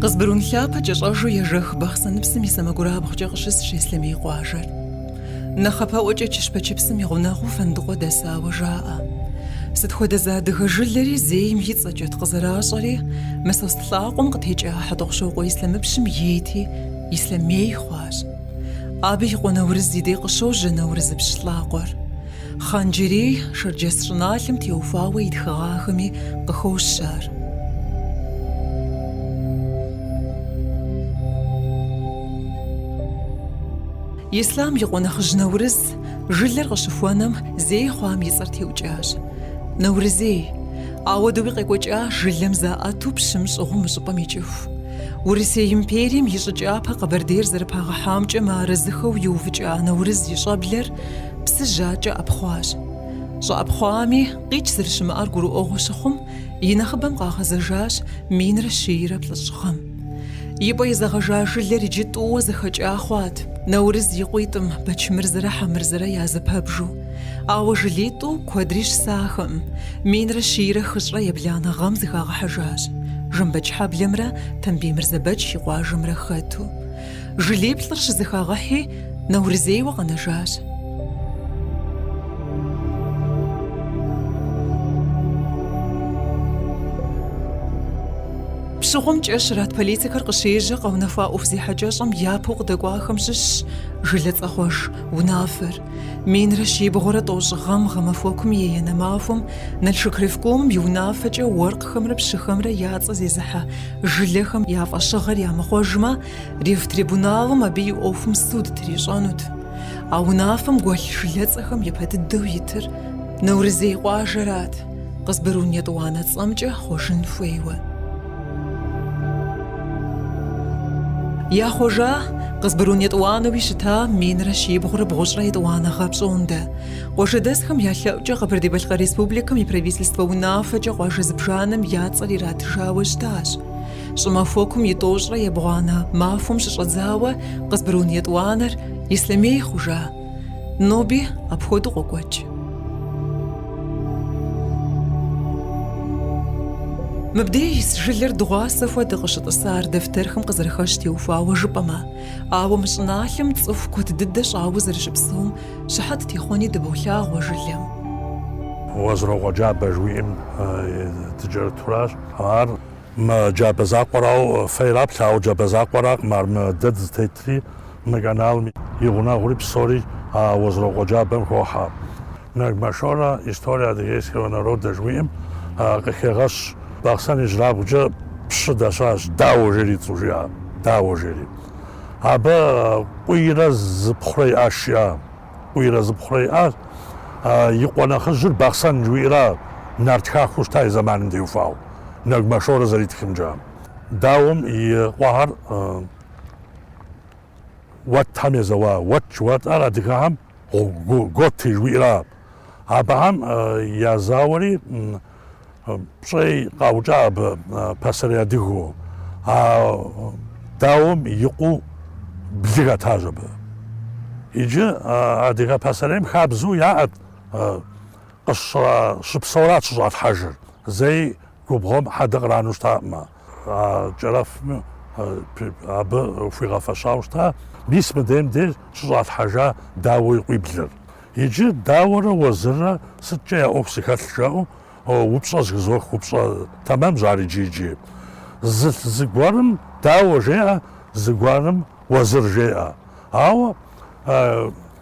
Къызбырун лъапэ кӏэщӏэжу ежэх Бахъсэныпсым и сэмэгурабгъукӏэ къыщысщ Ислъэмей къуажэр. Нэхъапэӏуэкӏэ Чыщпэчыпсым и гъунэгъуу Фэндыкъуэ дэсауэ жаӏэ. Сыт хуэдэ зы адыгэ жылэри зейм и цӏэкӏэт къызэращӏэри, Мысост лӏакъуэм къытекӏа Хьэтӏохъущокъуэ Ислъэмыпщым ейти, Ислъэмей хъуащ. Абы и къуэ Нэурыз и дей къыщожьэ Нэурызыпщ лӏакъуэр. Хъан-Джэрей шэрджэс щӏыналъэм теухуауэ и тхыгъахэми къыхощ ар. Ислъам и къуэ нэхъыжь Нэурыз жылэр къыщыхуэнэм зей хъуам и цӏэр теукӏащ. Нэурызей! Ауэдэуи къекӏуэкӏа жылэм заӏэту пщым щӏыгъуу мы щӏыпӏэм икӏыху. Урысей империем и щӏыкӏапэ Къэбэрдейр зэрыпагъэхьамкӏэ мыарэзыхэу иувыкӏа Нэурыз и щӏэблэр Псыжь акӏэ ӏэпхъуащ. Щӏэӏэпхъуами, къикӏ зэрыщымыӏэр гурыӏуэгъуэ щыхъум, и нэхъыбэм къагъэзэжащ минрэ щийрэ плӏыщӏ гъэм. И пӏэ изэгъэжа жылэр иджы тӏууэ зэхэкӏа хъуат, Нэурыз и къуитӏым, Бэчмырзэрэ Хьэмырзэрэ я зэпэбжу. Ауэ жылитӏу куэдри щысахэкъым, минрэ щийрэ хыщӏрэ ебланэ гъэм зыхагъэхьэжащ. Жэмбэчхьэблэмрэ Тамбий Мырзэбэч и къуажэмрэ хэту. Жылиплӏыр щызэхагъэхьи, Нэурызейуэ къэнэжащ. Пщыгъуэм кӏэ щрат политикэр къыщежьэ къэунэхуа ӏуэху зехьэкӏэщӏэм япэу къыдэкӏуахэм щыщщ жылэ цӏэхъуэж унафэр. Минрэ щибгъурэ тӏощӏ гъэм гъэмахуэкум и еянэ махуэм Налшык ревкомым и унафэкӏэ уэркъхэмрэ пщыхэмрэ я цӏэ зезыхьэ жылэхэм я фӏэщыгъэр ямыхъуэжмэ, Ревтрибуналым абы и ӏуэхум суд трищӏэнут. А унафэм гуэлъ жылэцӏэхэм япэ дыдэу итыр Нэурызей къуажэрат. Къызбырун етӏуанэ цӏэмкӏэ хъуэжын хуейуэ. Яхъуэжа, Къызбырун етӏуанэуи щыта минрэ щибгъурэ бгъущӏрэ етӏуанэ гъэ пщӏондэ. Къуажэдэсхэм я лъэӏукӏэ Къэбэрдей-Балъкъэр Республикэм и Правительствэ унафэкӏэ къуажэ зыбжанэм я цӏэр иратыжауэ щытащ. Щӏымахуэкум и тӏощӏрэ ебгъуанэ махуэм щыщӏэдзауэ Къызбырун етӏуанэр Ислъэмей хъужа. Ноби апхуэдэу къокӏуэкӏ. Мыбдеж жылэр дыгъуасэ хуэдэ къыщытӏысар дэфтэрхэм къызэрыхэщ теухуауэ жыпӏэмэ, ауэ мы щӏыналъэм цӏыху куэд дыдэ щӏауэ зэрыщыпсэум щыхьэт техъуэни дыболъагъуэ жылэм. Уэзрокъуэ джабэ жыуиӏэм дыкӏэрытуращ. Ар мы джабэ закъуэрауэ фейраплъ, ауэ джабэ закъуэракъым, ар мы дэ дызытетри. Мы каналым и гъунэгъури псори Уэзрокъуэ джабэм хохьэ. Нэгмэ Шорэ История адыгейского народа жыхуиӏэм къыхегъэщ Бахъсэн ижьырабгъукӏэ пщы дэсащ Дауэ жери и цӏэу жиӏа, Дауэ жери. Абы къуийрэ зыпхъурэ иӏащ жиӏа, къуийрэ зыпхъурэ иӏа. И къуэ нэхъыжьыр Бахъсэн жыхуиӏэра нарт хахуэу щыта и зэманым теухуауэ, Нэгмэ Шорэ зэритхымкӏэ. Дауэм и къуэхэр. Уэтхэм езэуа, уэт, уэтхэр адыгэхэм готы жыхуиӏэра. Абыхэм язауэри пщӏей къаукӏа абы пасэрей адыгэу, а Дауэм и къуэу блы хэтащ абы. Иджы адыгэ пасэрейм хабзэу яӏэт къыщ, щыпсэурат щыщӏалъхьэжыр, зэи губгъуэм хьэдэ къранэу щытакъымэ. А Кӏэрэфми абы хуигъэфэщауэ щыта мис мыдейм деж щыщӏалъхьэжа Дауэ и къуиблыр. Иджы Дауэрэ Уэзыррэ сыткӏэ я ӏуэху зыхэлъ жаӏэу упщӏэ зыхызох, упщӏэ тэмэмщ ар иджы, иджы. Зы зыгуэрым Дауэ жеӏэ, зыгуэрым Уэзыр жеӏэ. Ауэ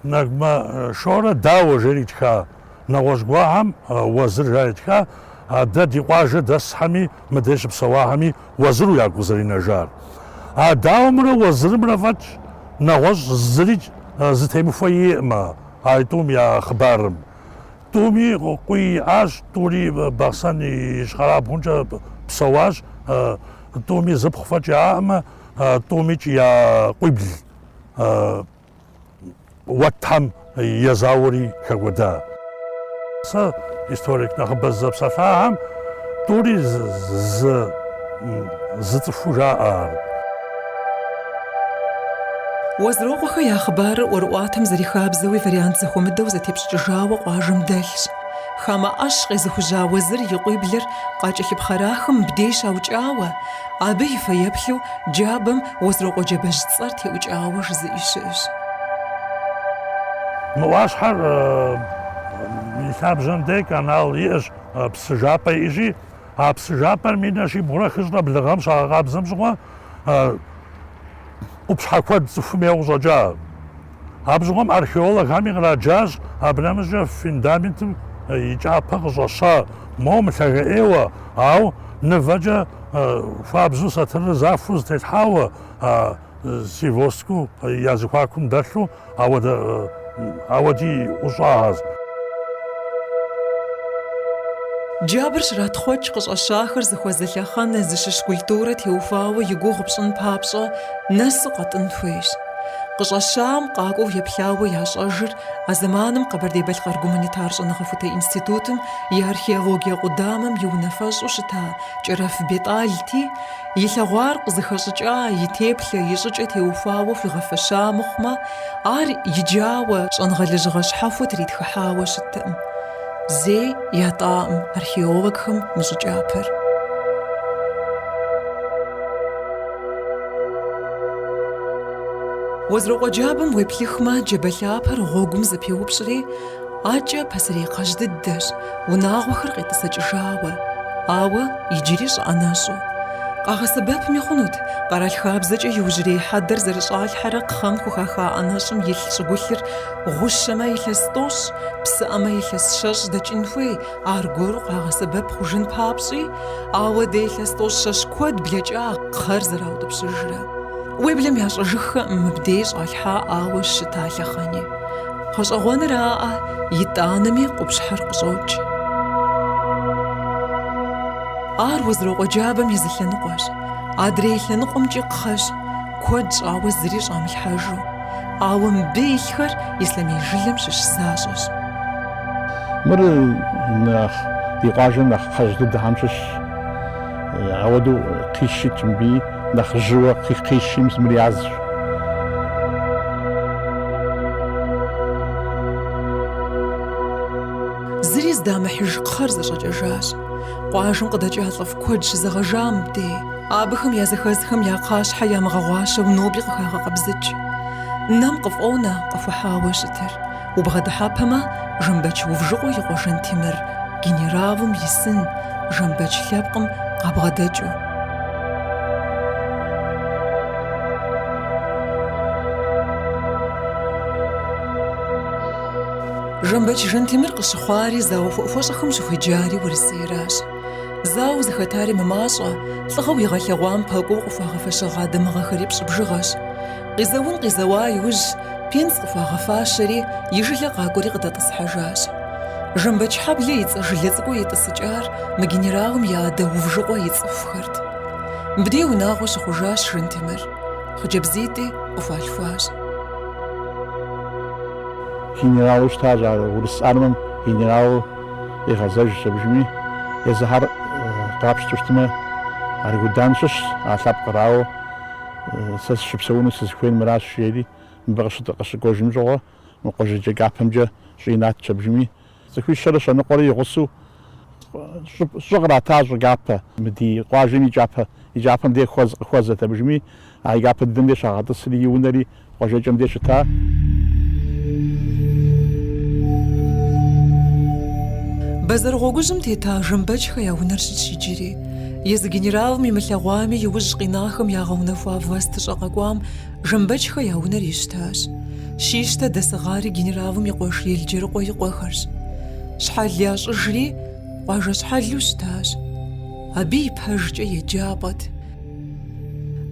Нэгмэ Шорэ Дауэ жери итха Нэгъуэщӏ гуэрхэм Уэзыр жари ятха, а дэ ди къуажэ дэсхэми, мыдей щыпсэуахэми Уэзыру ягу къызэринэжар. А Дауэмрэ Уэзырымрэ фӏэкӏ нэгъуэщӏ зыри зытемыхуэ иӏэкъымэ а тӏум я хъыбарым. Тӏуми къуий иӏащ, тӏури Бахъсэн и ищхъэрабгъумкӏэ псэуащ, тӏуми зыпхъу фӏэкӏ яӏакъымэ, тӏумикӏ я къуибл. Уэтхэм езауэри хэкӏуэда. Сэ историк нэхъыбэ сызэпсэлъахэм тӏури зы цӏыхуу жаӏэ ар. Уэзрокъуэхэ я хъыбарыр ӏуэрыӏуатэм зэрихабзэуи вариант зэхуэмыдэу зэтепщӏыкӏыжауэ къуажэм дэлъщ. Хамэ ӏэщ къезыхужьа Уэзыр и къуиблыр къакӏэлъыпхъэрахэм мыбдей щаукӏауэ, абы и фэеплъу джабэм Уэзрокъуэ джабэжь цӏэр теӏукӏауэ жызыӏи щыӏэщ. Мы ӏуащхьэр и лъабжьэм де канал иӏэщ, псы жапӏэ иӏэщи, а псы жапӏэр минрэ щибгъурэ хыщӏрэ блы гъэм щагъэкъабзэм щыгъуэ къупщхьэ куэд цӏыхум ейуэ къыщӏэкӏа. Абы щыгъуэм археологхэми къраджащ абы нэмыщӏкӏэ фундаментым и кӏапэ къыщӏэща моуэ мылъагэӏейуэ, ауэ мывэкӏэ хуабжьу сатырыр захуэу зытелъхьауэ извёсткэу я зэхуакум дэлъу ауэ дыӏущӏагъащ. Джабыр щратхъуэкӏ къыщӏэщахэр зыхуэзэ лъэхъэнэ зыщыщ культурэ теухуауэ и гугъу пщӏын папщӏэ нэсу къэтӏын хуейщ. Къыщӏэщам къакӏуэу еплъауэ ящӏэжыр а зэманым Къэбэрдей-Балъкъэр гуманитар щӏэныгъэхутэ институтым и археологие къудамэм и унафэщӏу щыта Кӏэрэф Бетӏалти, илъэгъуар къызыхэщӏыкӏа и теплъэ и щӏыкӏэ теухуауэ хуигъэфэща мыхъумэ, ар иджауэ щӏэныгъэлэжьыгъэ щхьэхуэ тритхыхьауэ щыттэкъым. Зэи ятӏакъым археологхэм мы щӏы кӏапэр. Уэзрокъуэ джабэм уеплъыхмэ, джабэ лъапэр гъуэгум зэпеупщӏри, адэкӏэ пасэрей кхъэжь дыдэщ, унагъуэхэр къетӏысэкӏыжауэ. Ауэ иджыри щӏы ӏэнэщӏу. Къагъэсэбэпми хъунут, къэрал хабзэкӏэ иужьрей хьэдэр зэрыщӏалъхьэрэ кхъэм хухаха ӏэнэщӏым илъ щӏыгулъыр Гъущэмэ илъэс тӏощӏ, псыӏэмэ илъэс щэщӏ дэкӏын хуей, аргуэру къагъэсэбэп хъужын папщӏи, ауэ дэ илъэс тӏощӏ щэщӏ куэд блэкӏа кхъэр зэраутӏыпщыжрэ. Уеблэм ящӏэжыххэкъым мыбдей щӏалъхьаӏауэ щыта лъэхъэни. Гъэщӏэгъуэныраӏэ, итӏанэми къупщхьэр къыщӏокӏ. Ар Уэзрокъуэ джабэм и зы лъэныкъуэщ. Адрей лъэныкъуэмкӏи кхъэщ, куэд щӏауэ зыри щӏамылъхьэжу. Ауэ мыбы илъхэр Ислъэмей жылэм щыщ защӏэщ. Мыр нэхъ ди къуажэм нэхъ кхъэжь дыдэхэм щыщщ. Ауэдэу кхъищ итщ мыбы, нэхъ жьыуэ кхъищым мыр язщ. Зыри здамыхьыж кхъэр зэщӏэкӏэжащ. Къуажэм къыдэкӏа лӏыфӏ куэд щызэгъэжа мыбдей. Абыхэм языхэзхэм я кхъащхьэ ямыгъэгъуащэу нобэри къыхагъэкъэбзыкӏ. Нэм къыфӏонэ къыхухьауэ щытыр, убгъэдыхьэпэмэ, Жэмбэч Увжыкъуэ и къуэ Жантемыр генералым и сын, Жэмбэч лъэпкъым къабгъэдэкӏыу. Жэмбэч Жантемыр къыщыхъуари зауэ хуэӏухуэщӏэхэм щыхуеджари Урысейращ. Зауэ зыхэтари мымащӏэ, лӏыгъэу игъэлъэгъуам пэкӏуэу къыхуагъэфэщэгъа дамыгъэхэри пщӏыбжыгъэщ. Къизэун къизэуа иужь, пенсэ къыхуагъэфащэри, и жылэ къакӏуэри къыдэтӏысхьэжащ. Жэмбэчхьэблэ и цӏэ жылэ цӏыкӏуу итӏысыкӏар мы генералым я адэ Увжыкъуэ и цӏыхухэрт. Мыбдей унагъуэ щыхъужащ Жантемыр. Хъыджэбзитӏи къыхуалъхуащ. Генералу щытащ ар, Урыс армэм генералу. къигъэзэжщ абыжми. Езыхьэр къапщтэу щытмэ, Аргудан щыщщ а лъэпкъыр, ауэ, сэ сыщыпсэуну сызыхуейр мыращ, жери, мыбы къыщыкӏуэжым щыгъуэ, мы къуажэджэ кӏапэмкӏэ щӏы иратщ абыжми. Цӏыхуищэрэ щэныкъуэрэ и гъусэу щӏы кърата щӏы кӏапэ. Мы ди къуажэм и кӏапэ, и кӏапэм де хуэзэ, къыхуэзэт абыжми, а и кӏапэ дыдэм де щагъэтӏысри и унэри къуажэкӏэм де щыта. Бэзэр гъуэгужьым тета Жэмбэчхэ я унэр щытщ иджыри. Езы генералым имылъэгъуами, иужь къинахэм ягъэунэхуа властыщӏэ къэкӏуам Жэмбэчхэ я унэр ищтащ. Щищтэ дэсыгъари генералым и къуэш Елджэрыкъуэ и къуэхэрщ. Щхьэл ящӏыжри, къуажэ щхьэлу щытащ. Абы ипэжкӏэ еджапӏэт.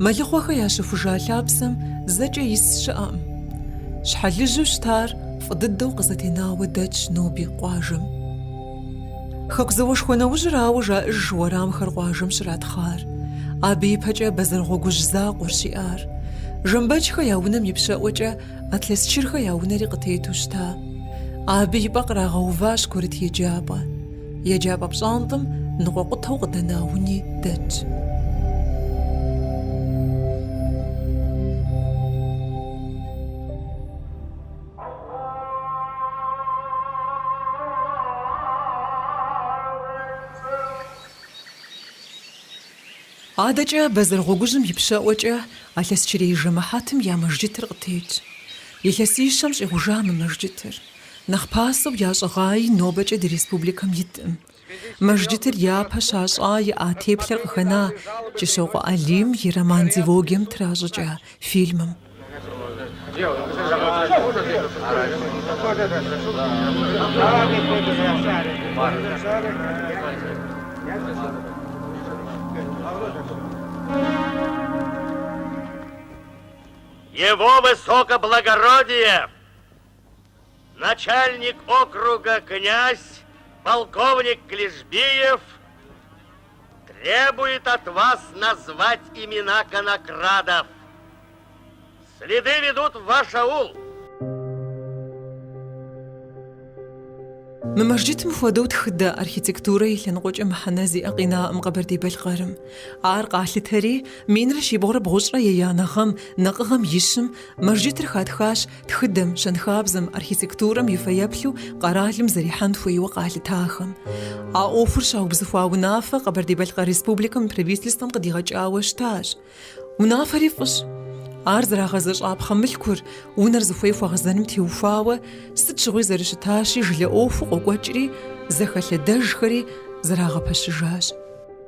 Мэлыхъуэхэ ящыхужа лъапсэм зэкӏэ ис щыӏэкъым. Щхьэлыжьу щытар фӏы дыдэу къызэтенауэ дэтщ ноби къуажэм. Хэку зауэшхуэ нэужьырауэ жаӏэж уэрамхэр къуажэм щратхъар. Абы ипэкӏэ Бэзэргъуэгужь закъуэрщ иӏар. Жэмбэчхэ я унэм ипщэӏуэкӏэ Атлъэсчырхэ я унэри къытету щыта. Абы и пӏэ кърагъэуващ курыт еджапӏэ. Еджапӏэ пщӏантӏэм ныкъуэкъутэу къыдэна уни дэтщ. Адэкӏэ Бэзэргъуэгужьым ипщэӏуэкӏэ Алъэсчырей жэмыхьэтым я мэжджытыр къытетщ. Илъэсищэм щӏигъужа мы мэжджытыр Нэхъ пасэу ящӏыгъаи нобэкӏэ ди республикэм итӏым. Мэжджытыр япэ щащӏа иӏа теплъэр къыхэна Кӏыщокъуэ Алим и роман-дилогием тращӏыкӏа фильмым. Его Высокоблагородие! Начальник округа князь полковник Клишбиев требует от вас назвать имена конокрадов. Следы ведут в ваш аул. Мы мэжджытым хуэдэу тхыдэ архитектурэ и лъэныкъуэкӏэ мыхьэнэ зиӏэ къинаӏым Къэбэрдей-Балъкъэрым. Ар къалъытэри, минрэ щибгъурэ бгъущӏрэ еянэ гъэм, накъыгъэм и щым, мэжджытыр хатхащ тхыдэм, щэнхабзэм, архитектурэм и фэеплъу къэралым зэрихьэн хуейуэ къалъытахэм. А ӏуэхур щаубзыхуа унафэ Къэбэрдей-Балъкъэр Республикэм и Правительствэм къыдигъэкӏауэ щытащ. Унафэри фӏыщ. Ар зэрагъэзэщӏапхъэ мылъкур, унэр зыхуей хуэгъэзэным теухуауэ, сыт щыгъуи зэрыщытащи, жылэ ӏуэхуу къокӏуэкӏри, зэхэлъэдэжхэри зэрагъэпэщыжащ.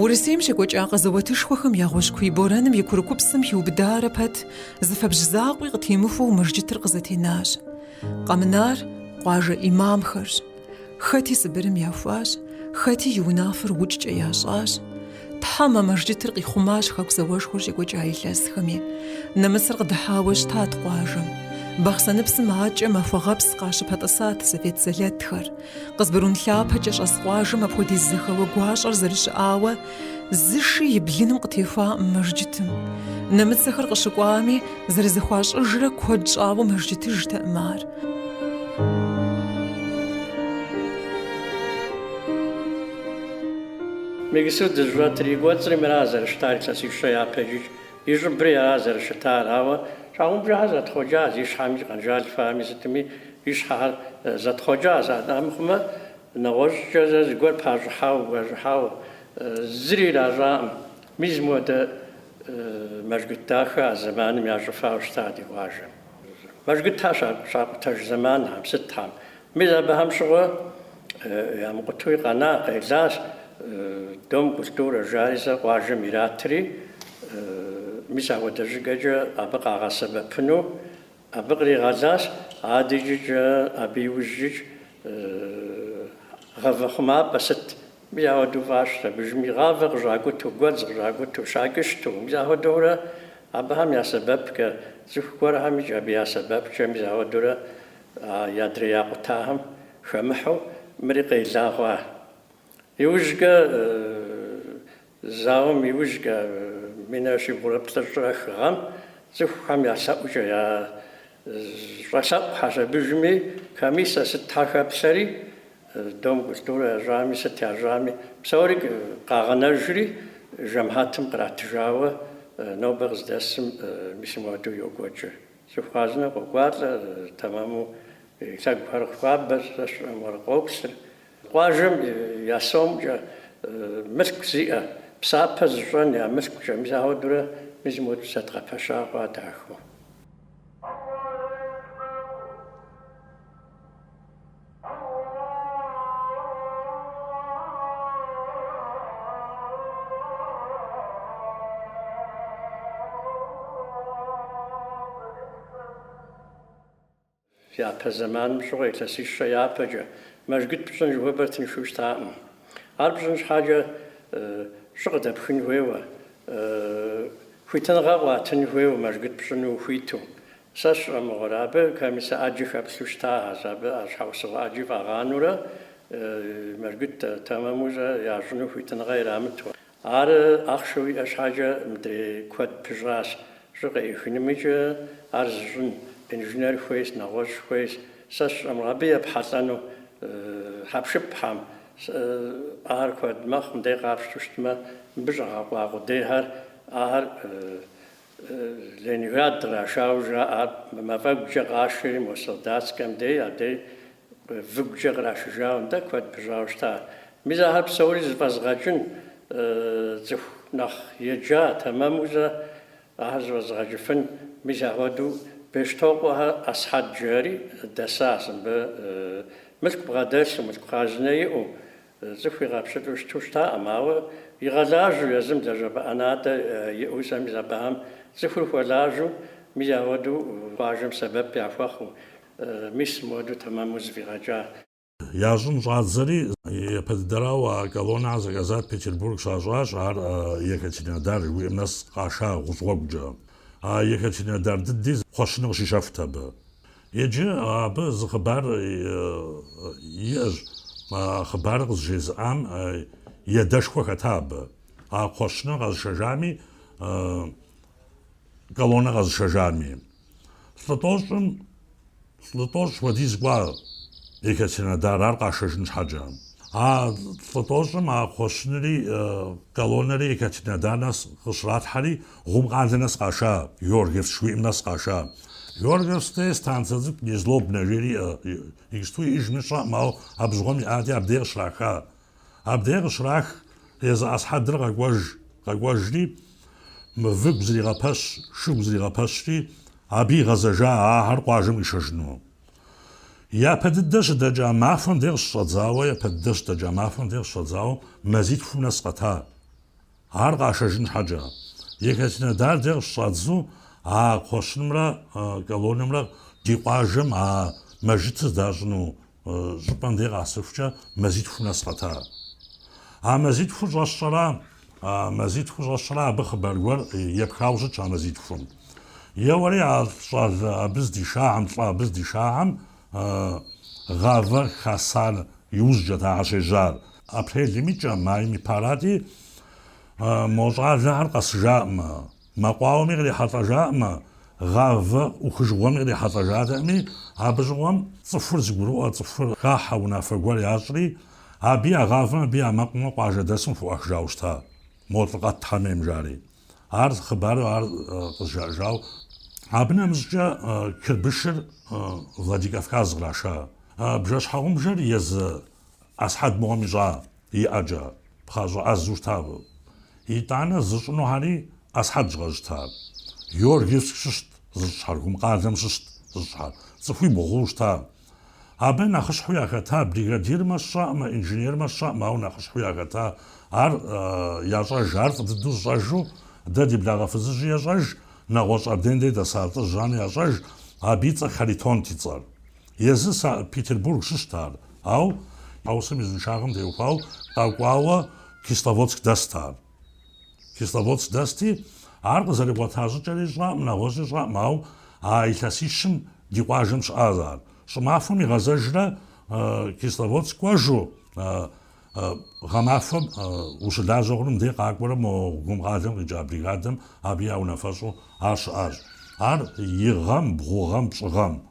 Урысейм щекӏуэкӏа къэзэуэтышхуэхэм я гъущӏ куий борэным и курыкупсым хиубыдарэ пэт зы фэбжь закъуи къытемыхуэу мэжджытыр къызэтенащ. Къэмынар къуажэ ӏимамхэрщ. Хэти Сыбырым яхуащ, хэти и унафэр укӏкӏэ ящӏащ. Тхьэм а мэжджытыр къихъумащ Хэку зауэшхуэр щекӏуэкӏа илъэсхэми. Нэмыцэр къыдыхьауэ щытат къуажэм. Бахъсэныпсым акӏэ Махуэгъэпс къащыпэтӏысат совет сэлэтхэр. Къызбырун лъапэкӏэ щӏэс къуажэм апхуэдиз зэхэуэ гуащӏэр зэрыщыӏауэ, зы ши и блыным къытехуаӏым мэжджытым. Нэмыцэхэр къыщыкӏуами, зэрызэхуащӏыжрэ куэд щӏауэ мэжджытыжтэӏым ар. Мы иджыпсту дыщӏэтыр и кӏуэцӏри мыра зэрыщытар илъэсищэ япэкӏэ, и щӏыбри ара зэрыщытар, ауэ щхьэгъубжэхэр зэтхъуэкӏащ, и щхьэми, къэнжал фами, сытми, И щхьэхэр зэтхъуэкӏащ, амыхъумэ, нэгъуэщӏкӏэ э зыгуэр пащӏыхьауэ, гуащӏыхьауэ, зыри иращӏаӏым. Мис мыуэдэ мэжгыт дахэ а зэманым ящӏыфауэ щыта ди къуажэм. Мэжгытхэр щакъутэж зэманхэм, сытхэм. Мис абыхэм щыгъуэ ямыкъутуи къэна, къелащ. Дом культурэ жари зэ къуажэм иратри, мис ахуэдэ щӏыкӏэкӏэ абы къагъэсэбэпыну. Абы къригъэлащ адэкӏэкӏэ абы иужькӏэ гъавэ хъумапӏэ сыт, мис ахуэдэу фӏащщ, абыжми гъавэ къыщӏакӏуту, гуэдз къыщӏакӏуту, щакӏыщту, мис ахуэдэурэ абыхэм я сэбэпкӏэ, цӏыху гуэрхэмкӏэ абы я сэбэпкӏэ, мис ахуэдэурэ адрей якъутахэм хэмыхьу мыри къела хъуа. Иужькӏэ Зауэм иужькӏэ, минрэ щибгъурэ плӏыщӏрэ хыгъэм, цӏыхухэм я лъэӏукӏэ щӏэлъэӏухэщ, абыжми комиссэ сытхэ хэплъэри, Дом культурэ ящӏами, сыт ящӏами, псори къагъэнэжри, жэмыхьэтым къратыжауэ нобэ къыздэсым мис мыуэду йокӏуэкӏы. Цӏыху хъарзынэ къокӏуалӏэ, тэмэму и лъэгухэри хуабэ, системэр къоплъыр. Къуажэм я сомкӏэ мылъку зиӏэ, псапэ зыщӏэн я мылъкукӏэ, мис ауэдурэ мис мыуэду зэдгъэпэща хъуа дахэу. Япэ зэманым щыгъуэ илъэсищэ япэкӏэ, мэжгыт пщӏын жыхуэпӏэр тыншу щытаӏым. Ар пщӏын щхьэкӏэ щӏы къыдэпхын хуейуэ, хуитыныгъэ къуатын хуейуэ мэжгыт пщӏыну ухуиту. Сэ сщӏэмыгъуэрэ, абы комиссэ ӏэджи хэплъу щытахэщ, абы а щхьэусыгъуэ ӏэджи фӏагъанурэ, мэжгыт тэмэму щӏэ ящӏыну хуитыныгъэ ирамыту. Ар ахъшэ уиӏэ щхьэкӏэ мыдрей куэд пыщӏащ, щӏы къыӏихынымикӏэ ар зыщӏын инженер хуейщ, нэгъуэщӏ хуейщ. Сэ сщӏэмэ, абы епхьэлӏэну хьэпшыпхэм, ахэр куэд мэхъу, мыдей къапщту щытмэ, мыбы щӏэгъэкъуа къудейхэр, ахэр Ленинград кърашауэ жаӏэ, мафӏэгукӏэ къашэри мо Солдатскэм дей, адэри выгукӏэ кърашыжауэ нтӏэ куэд пыщӏауэ щыта. Мис ахэр псори зыфӏэзгъэкӏын цӏыху нэхъ еджа, тэмэму зэ ахэр зыфӏэзгъэкӏыфын. Мис ахуэдэу Бештокъуэхэ Асхьэд жери дэсащ абы, мылъку бгъэдэлъу, мылъку хъарзынэ иӏэу, Цӏыху игъэпщылӏу щыту щытаӏым, ауэ игъэлажьэу езым лэжьапӏэ ӏэнатӏэ иӏэу сэмми зэпӏам. Цӏыхур хуэлажьэу мис ауэдэу къуажэм сэбэп яхуэхъуу, мис мыхуэдэу тэмэму зыфӏигъэкӏа. Ящӏын щӏадзэри, япэ дыдэрауэ а колоннэр заказ ят, Петербург щащӏащ, ар Екатеринодар жыхуиӏэм нэс къаша гъущӏ гъуэгукӏэ. А Екатеринодар дыди кхъуэщыни къыщищэхут абы. Иджы абы зы хъыбар иӏэщ, а хъыбарыр къызжезыӏам и адэшхуэ хэта абы, а кхъуэщыныр къэзышэжами, колоннэр къэзышэжами. Лӏы тӏощӏым лӏы тӏощӏ хуэдиз кӏуа Екатеринодар ар къашэжын щхьэкӏэ. А лӏы тӏощӏым а кхъуэщынри колоннэри Екатеринодар нэс къыщралъхьэри, Гъум къалэ нэс къаша, Георгиевск жыхуиӏэм нэс къаша. Георгиевск де станцэ цӏыкӏу Незлобнэ жери иӏэ. Иджыпсту иӏэжми сщӏэӏым, ауэ абы щыгъуэм иӏати, абдей къыщраха. Абдей къыщрах, езы Асхьэдыр къэкӏуэж. Къэкӏуэжри, мы выгу зригъэпэщ, шыгу зригъэпэщри, абы игъэзэжа ахэр къуажэм къишэжыну. Япэ дыдэ щыдэкӏа махуэм де къыщыщӏэдзауэ, япэ дыдэ щыдэкӏа махуэм де къыщыщӏэдзауэ, мазитхум нэс къэта. Ар къашэжын щхьэкӏэ, Екатеринодар де къыщыщӏадзу а кхъуэщынымрэ колоннэмрэ ди къуажэм а мэжгытыр здащӏыну щӏыпӏэм дей къагъэсыхукӏэ мазитхум нэс къэта. А мазитхур щӏэсщӏэра, мазитхур щӏэсщӏэра абы хъыбар гуэр епхауэ щытщ а мазитхум. Еуэри а щӏалэ абы здишахэм, лӏы абы здишахэм гъавэр хасар иужькӏэт ахэр щежьар. Апрелым и кӏэ, майм и пэрати, мо щӏалэхэр къэсыжаӏымэ, мэкъуауэми кърихьэлӏэжаӏымэ, гъавэ ӏухыжыгъуэми кърихьэлӏэжатэӏыми, абы щыгъуэм цӏыхур зыгурыӏуэ, цӏыхур хахьэ унафэ гуэр ящӏри, абы я гъавэм, абы я мэкъум къуажэдэсым хуӏуахыжауэ щыта, мо лӏыкъэт Тхьэм емыжари. Ар хъыбару ар къызжаӏэжау. Абы нэмыщӏкӏэ Кырбышыр Владикавказ къраша. Бжэ-щхьэгъубжэр езы Асхьэд мыгъуэм ищӏа иӏэкӏэ пхъащӏэ ӏэзу щытащ. Итӏанэ зыщӏынухэри Асхьэдщ къэзыщтар. Георгиевск щыщт зыщӏахэр, Гумкъалэм щыщт зыщӏахэр, цӏыхуибгъуу щытащ. Абы нэхъыщхьэу яхэта бригадирми сщӏэӏым, инженерми сщӏэӏым, ауэ нэхъыщхьэу яхэта ар ящӏэж, ар фӏы дыдэу зыщӏэжу, дэ ди благъэ фызыжьи ещӏэж, нэгъуэщӏ абдендей дэса лӏыжь Жану ящӏэж, абы и цӏэр Харитонт и цӏэр. Езы Санкт-Петербург щыщт ар, ау езым и узыншагъэм теухуау къэкӏуауэ Кисловодск дэст ар. Кисловодск дэсти, ар къызэригъуэта щӏыкӏэри сщӏэӏым, нэгъуэщӏи сщӏэӏым, ау а илъэсищым ди къуажэм щыӏащ ар. Щӏымахуэм игъэзэжрэ Кисловодск кӏуэжу, гъэмахуэм ущылажьэ хъуну мыдей къакӏуэрэ мо Гумкъалэм къикӏа бригадэм абы я унафэщӏу ар щыӏащ. Ар игъэм, бгъугъэм, пщӏыгъэм.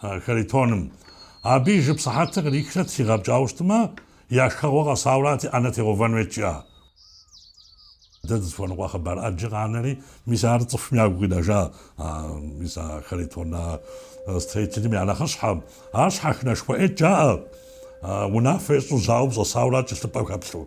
А Харитоным. Абы и жып сыхьэтыр кърихрэт, сигъэпкӏауэ щытмэ, я шхэгъуэ къэсаурати, ӏэнэ тегъэувэн хуейт, жиӏа. Дэ дызыхуэныкъуэ хъыбар ӏэджэ къанэри, мис ар цӏыхум ягу къинэжа, а, мис а Харитон а строителым я нэхъыщхьэм. Ар щхьэхынэшхуэ ӏейт, жаӏэ, унафэ ещӏу жьауэм щӏэсауэрат кӏэлъыпӏэм хэплъу.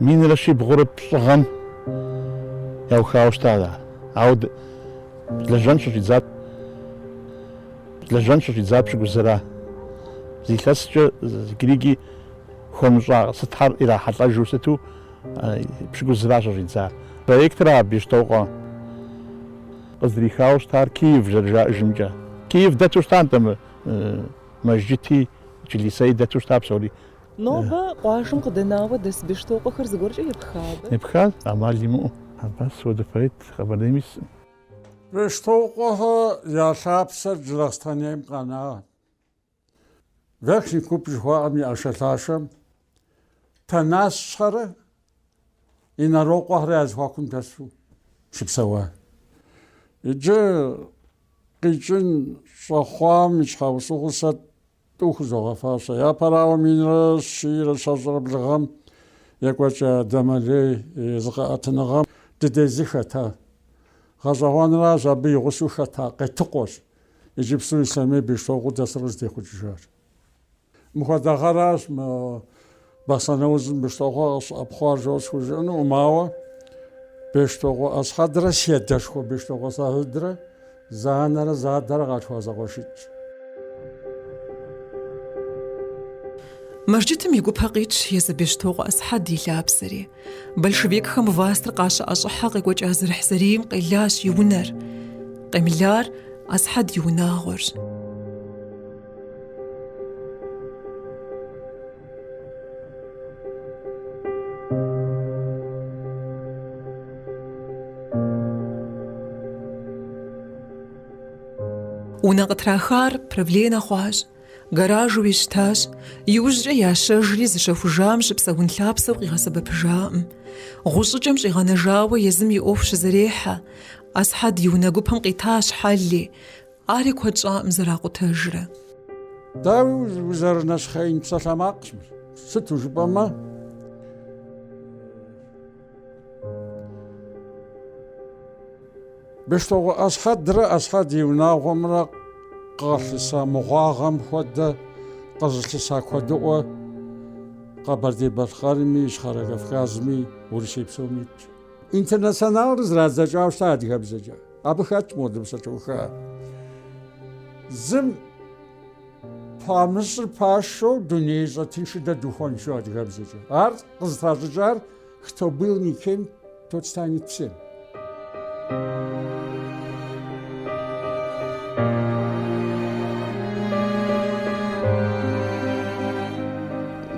Минрэ щибгъурэ пщӏыгъэм яухауэ щытащ ар, ауэ лэжьэн щыщӏидзат лэжьэн щыщӏидзар пщыкӏузыра. Зы илъэскӏэ иджырикӏи хуэмыщӏа сытхэр ирахьэлӏэжу сыту пщыкӏузыра щыщӏидзар. Проектыр а Бештокъуэ къыздрихауэ щытар Киев зэрыжаӏэжымкӏэ. Киев дэту щыта нтӏэ мы мэжджыти члисэи дэту щыта псори. Нобэ къуажэм къыдэнауэ дэс Бештокъуэхэр зыгуэркӏэ епха абы? Епхащ, ӏэмал имыӏэу. Хьэбас хуэдэ поэт Къэбэрдейм исӏым. Бештокъуэхэ я лъапсэр Джылахъстэнейм къэнагъ. Верхний Куб жыхуаӏэм и ӏэшэлъашэм Тэнашхэрэ Инарокъуэхэрэ я зэхуакум дэсу щыпсэуащ. Иджы къикӏын щӏэхъуам и щхьэусыгъуэу сэ тӏу хузогъэфащэ. Япэрауэ, минрэ щийрэ щэщӏрэ блыгъэм екӏуэкӏа Дамэлей зыкъэӏэтыныгъэм дыдей зы хэта. Гъэщӏэгъуэнращ абы и гъусэу хэта Къетыкъуэщ иджыпсту Ислъэмей Бештокъуэу дэсыр къызытехъукӏыжар. Мыхуэдэ гъэращ мы Бахъсэн аузым Бештокъуэ къыщӏэпхъуар жо схужыӏэнукъым, ауэ Бештокъуэ Асхьэдрэ си адэшхуэ Бештокъуэ Сагьидрэ зы анэрэ зы адэрэ къалъхуа зэкъуэшитӏщ. Мэжджытым и гупэ къитщ езы Бештокъуэ Асхьэд и лъапсэри. Большевикхэм властыр къащыӏэщӏыхьэ къекӏуэкӏа зэрыхьзэрийм къелащ и унэр. Къемылар Асхьэд и унагъуэрщ. Унэ къытрахар правленэ хъуащ. Гаражу щытащ, иужькӏэ ящэжри зыщэхужам щыпсэун лъапсэу къигъэсэбэпыжакъым. Гъущӏыкӏэм щӏигъэнэжауэ езым и ӏуэху щызэрехьэ, Асхьэд и унэ гупэм къитащ Хьэлли, ари куэд щӏакъым зэракъутэжрэ. Дауи, узэрынэщхъеин псалъэмакъщ, сыту жыпӏэмэ. Бештокъуэ Асхьэдрэ Асхьэд и унагъуэмрэ къалъыса мыгъуагъэм хуэдэ къызылъыса куэдыӏуэ Къэбэрдей-Балъкъэрми, Ищхъэрэ Кавказми, Урысей псоми итщ. Интернационалыр зрадзэкӏауэ щыта адыгэбзэкӏэ. Абы хэтщ моуэдэ сатырхэр. Зым памыщӏыр пашэу дунеищӏэ тынш дэ духуэнщ адыгэбзэкӏэ. Ар къызытращӏыкӏар Кто был никем, тот станет всем.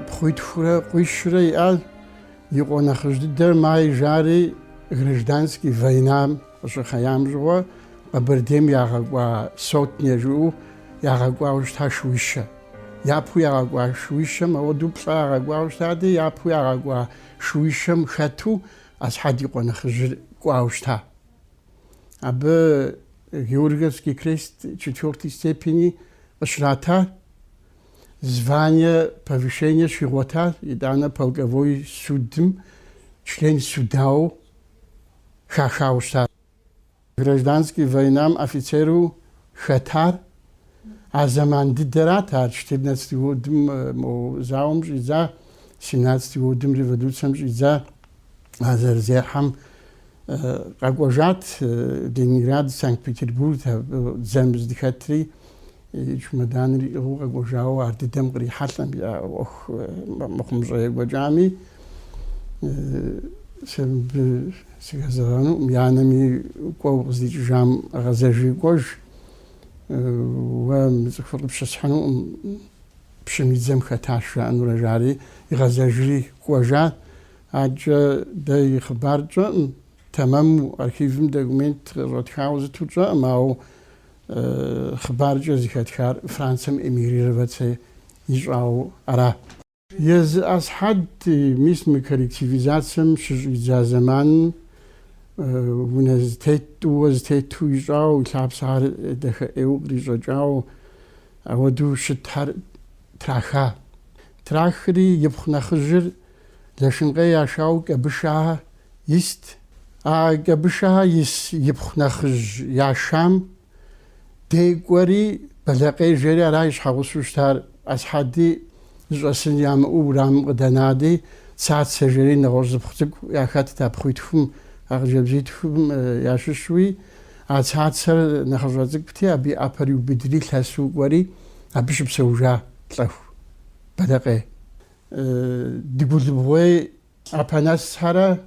Пхъуитхурэ къуищрэ иӏащ, и къуэ нэхъыжь дыдэр Май жари гражданский войнам къыщыхъеям щыгъуэ Къэбэрдейм ягъэкӏуа сотня жаӏэу ягъэкӏуауэ щыта шууищэ. Япэу ягъэкӏуа шууищэм ауэдэу плӏэ ягъэкӏуауэ щытати, япэу ягъэкӏуа шууищэм хэту Асхьэд и къуэ нэхъыжьыр кӏуауэ щыта. Абы Георгиевский крест четвертой степени къыщрата, звание, повышение щигъуэта, итӏанэ полковой судым член судауэ хахауэ щытащ. Гражданский войнам офицеру хэтар а зэман дыдэрат ар, четырнадцатый годым мо зауэм щӏидза, семнадцатый годым революцэм щӏидза, а зэрызехьэм къэкӏуэжат Ленинград, Санкт-Петербург, дзэм здыхэтри. и чумэданыр иӏыгъыу къэкӏуэжауэ ар дыдэм кърихьэлӏэм я ӏуэху мыхъумыщӏэ екӏуэкӏами, сэ мыбы сыхэзэгъэнукъым, и анэми кӏуэ, укъыздикӏыжам гъэзэжи кӏуэж, уэ мы цӏыхур къыпщысхьынукъым, пщым и дзэм хэтащ, жаӏэнурэ жари, игъэзэжри кӏуэжа. Адэкӏэ дэ и хъыбар тщӏэкъым, тэмэму архивым документ къыщӏэтхауэ зыту тщӏэкъым, ауэ хъыбаркӏэ зыхэтхар Францэм эмигрировацэ ищӏауэ ара. Езы Асхьэд мис мы коллективизацэм щыщӏидза зэманым унэ зытет, тӏууэ зытету ищӏауэ, и лъапсэр дахэ ӏейуэ кърищӏэкӏауэ ауэдэу щытхьэр траха. Трахри, ипхъу нэхъыжьыр Лэшынкъей яшау Кӏэбышэхэ ист. А Кӏэбышэхэ ис ипхъу нэхъыжь яшам де кӏуэри, Бэлэкъей жери ара и щхьэгъусэу щытар. Асхьэди зыщӏэсын ямыӏэу урамым къыдэнади, Цацэ жери нэгъуэщӏ зы пхъу цӏыкӏу яхэтт а пхъуитхум, а хъыджэбзитхум ящыщу. А Цацэр нэхъыщӏэ цӏыкӏути, абы и ӏэпэр иубыдри, лъэсу кӏуэри, абы щыпсэужа лӏэху Бэлэкъей. Дыгулыбгъуей Апанэсхэрэ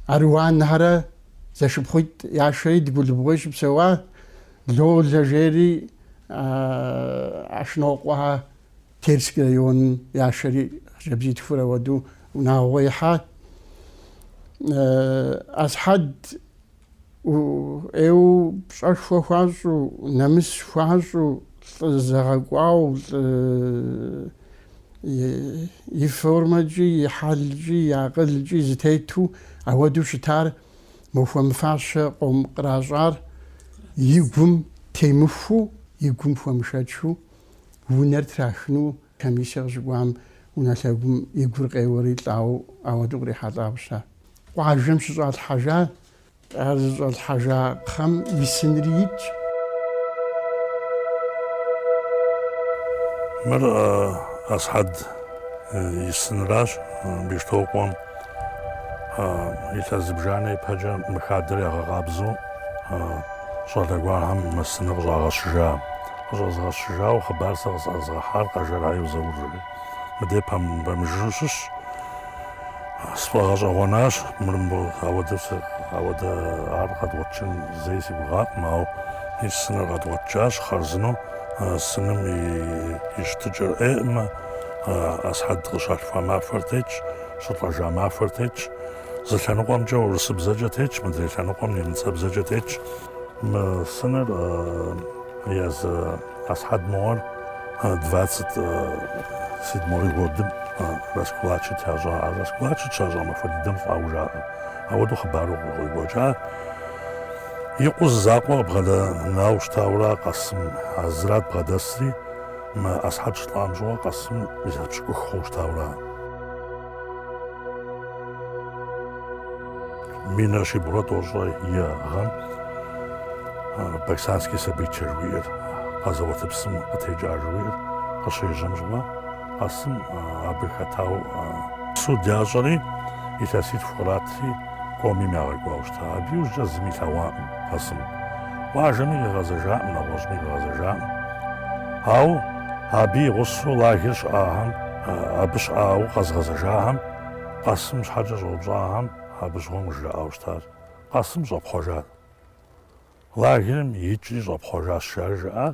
Аруанхэрэ зэшыпхъуитӏ яшэри Дыгулыбгъуей щыпсэуа, Лолэ жери Ашнокъуэ Терскэ район яшэри хъыджэбзитхур ауэду унагъуэ ихьа. Асхьэд ӏейуэ пщӏэшхуэ хуащӏу, нэмыс хуащӏу, лӏы зэгъэкӏуау, лӏы и формэкӏи, и хьэлкӏи, и акъылкӏи зытету ауэдэу щытар мы хуэмыфащэ къом къращӏар и гум темыхуу, и гум хуэмышэчу унэр трахыну Комиссие къыщыкӏуам унэлъэгум и гур къеуэри лӏауэ ауэду кърихьэлӏауэ щыта. Къуажэм щыщӏалъхьэжа, ар зыщӏалъхьэжа кхъэм и сынри итщ. Мыр Асхьэд и сынращ Бещтокъуэм. Илъэс зыбжанэ ипэкӏэ мы хадэр ягъэкъабзэу щӏалэ гуэрхэм мы сыныр къыщӏагъэщыжа. Къыщӏэзгъэщыжауэ хъыбар сэ къысӏэзгъэхьар Къэжэров Заур жери мыдей пэмыжыжьу щыщ. Сфӏэгъэщӏэгъуэнащ, ауэдэ ар къэдгъуэтыжын зэи си гугъакъым, ауэ и сыныр къэдгъуэтыжащ хъарзынэу, сыным и щытыкӏэр ӏейӏымэ. Асхьэд къыщалъхуа махуэр тетщ, щылӏэжа махуэр тетщ. Зы лъэныкъуэмкӏэ урысыбзэкӏэ тетщ, мыдрей лъэныкъуэм немыцэбзэкӏэ тетщ. Мы сыныр езы Асхьэд мыгъуэр 27 годым раскулачит ящӏа. А раскулачит щащӏа махуэ дыдэм лӏауэ жаӏэ. Ауэдэу хъыбару къыгъуэгуэкӏа. И къуэу зы закъуэ къыбгъэдэнауэ щытауэра Къэсым, а зырат бгъэдэсри. Мы Асхьэд щылӏам щыгъуэ Къэсым илъэс пщыкӏух хъууэ щытауэра. Минрэ щибгъурэ тӏощӏрэ и гъэм Баксанский событие жыхуиӏэр, къэзэуат псым къытекӏа жыхуиӏэр къыщежьэм щыгъуэ, Къэсым абы хэтауэ суд ящӏэри, илъэситху къратри. Комим ягъэкӏуауэ щыта. Абы иужькӏэ зыми илъэгъуакъым Къэсым. Къуажэми къигъэзэжакъым, нэгъуэщӏми къигъэзэжакъым. Ауэ абы и гъусэу лагер щыӏахэм, абы щыӏауэ къэзгъэзэжахэм, Къэсым щхьэкӏэ щӏэупщӏахэм абы щыгъуэм къыжраӏауэ щытащ. Къэсым щӏэпхъуэжат. Лагерым икӏри щӏэпхъуэжащ, жаӏэри жаӏа.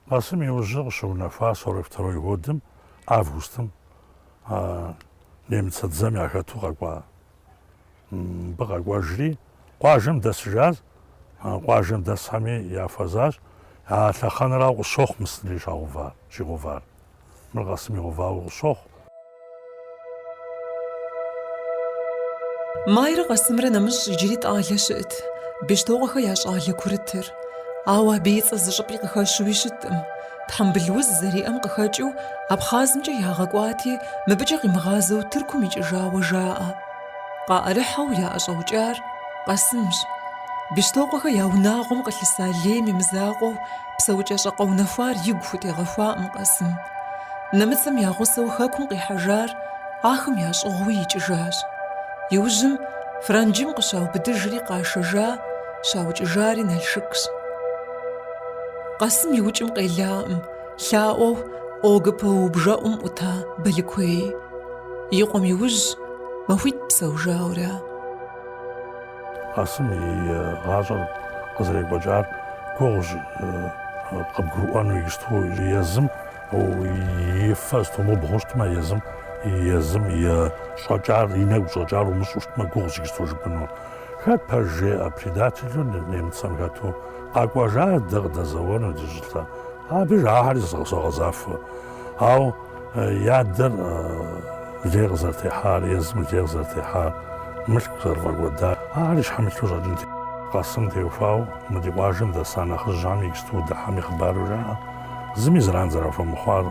Къэсым иужьыр къыщыунэхуа сорок второй годым, августым, немыцэ дзэм яхэту къэкӏуа Мыбы къэкӏуэжри, къуажэм дэсыжащ. Къуажэм дэсхэми яхуэзащ. А лъэхъэнэрауэ къыщохъу мы сынри щагъэувар, щигъэувар. Мыр Къэсым игъэувауэ къыщохъу. Майрэ Къэсымрэ нэмыщӏ иджыри щӏалэ щыӏэт, Бещтокъуэхэ я щӏалэ курытыр. Ауэ абы и цӏэ зыщӏыпӏи къыхэщуи щыткъым. Тхьэмбыл уз зэриӏэм къыхэкӏыу Абхъазымкӏэ ягъэкӏуати, мыбыкӏэ къимыгъазэу Тыркум икӏыжауэ жаӏэ. Къаӏэрыхьэу яӏэщӏэукӏар Къэсымщ. Бещтокъуэхэ я унагъуэм къылъыса лейм имызакъуэу псэукӏэщӏэ къэунэхуар игу хутегъэхуакъым Къэсым. Нэмыцэм я гъусэу Хэкум къихьэжар ахэм ящӏыгъуи икӏыжащ. Иужьым Франджым къыщаубыдыжри къашэжа, щаукӏыжари Налшыкщ. Къэсым и укӏым къелаӏым, лъаӏуэу ОГПУ и бжэӏум ӏута Балыкуей. И къуэм иужь махуитӏ псэужауэра. Къэсым и гъащӏэр къызэрекӏуэкӏар гугъущ, къыбгурыӏуэну ишту езым и фэ стомыбгъуу щытмэ, езым, езым и щӏэкӏар, и нэгу щӏэкӏар умыщӏэу щытмэ, гугъущ ишту жыпӏэну. Хэт пэж жеӏэ предателу нэмыцэм хэту къэкӏуэжа дэ къыдэзэуэну ди щӏылъэ? Абы жаӏэхэри согъэзафэ. Ауэ и адэр лей къызэрытехьар, езым лей къызэрытехьар, мылъку зэрыфӏэкӏуэдар, ахэри и щхьэм илъу щӏэкӏын. Къэсым теухуауэ мы ди къуажэм дэса нэхъыжьхэм иджыпсту удыхьэми хъыбару жаӏэ. Зыми зэран зэрахуэмыхъуар,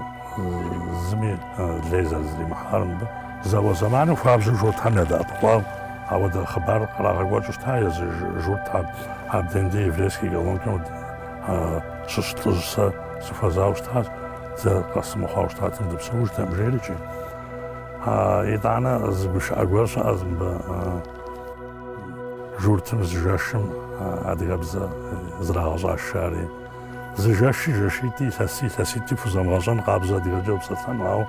зыми лей зэрызримыхьар мыбы. Зауэ зэманым хуабжьу Журтхэм ядэӏэпыкъуауэ ауэдэ хъыбар кърагъэкӏуэкӏыу щыта езы Журтхэм. Абденде еврейскэ колонкэм щыщ лӏыжь сэ сыхуэзауэ щытащ, дэ Къэсым мыхъуауэ щытатэм дыпсэужтэкъым, жери икӏи. Итӏанэ зы гушыӏэ гуэр щыӏэщ мыбы Журтым зы жэшым адыгэбзэ зрагъэщӏаш жари. Зы жэщи жэщитӏи, илъэси илъэситӏи пхузэмыгъэщӏэн къабзэ адыгэкӏэ упсэлъэну. Ауэ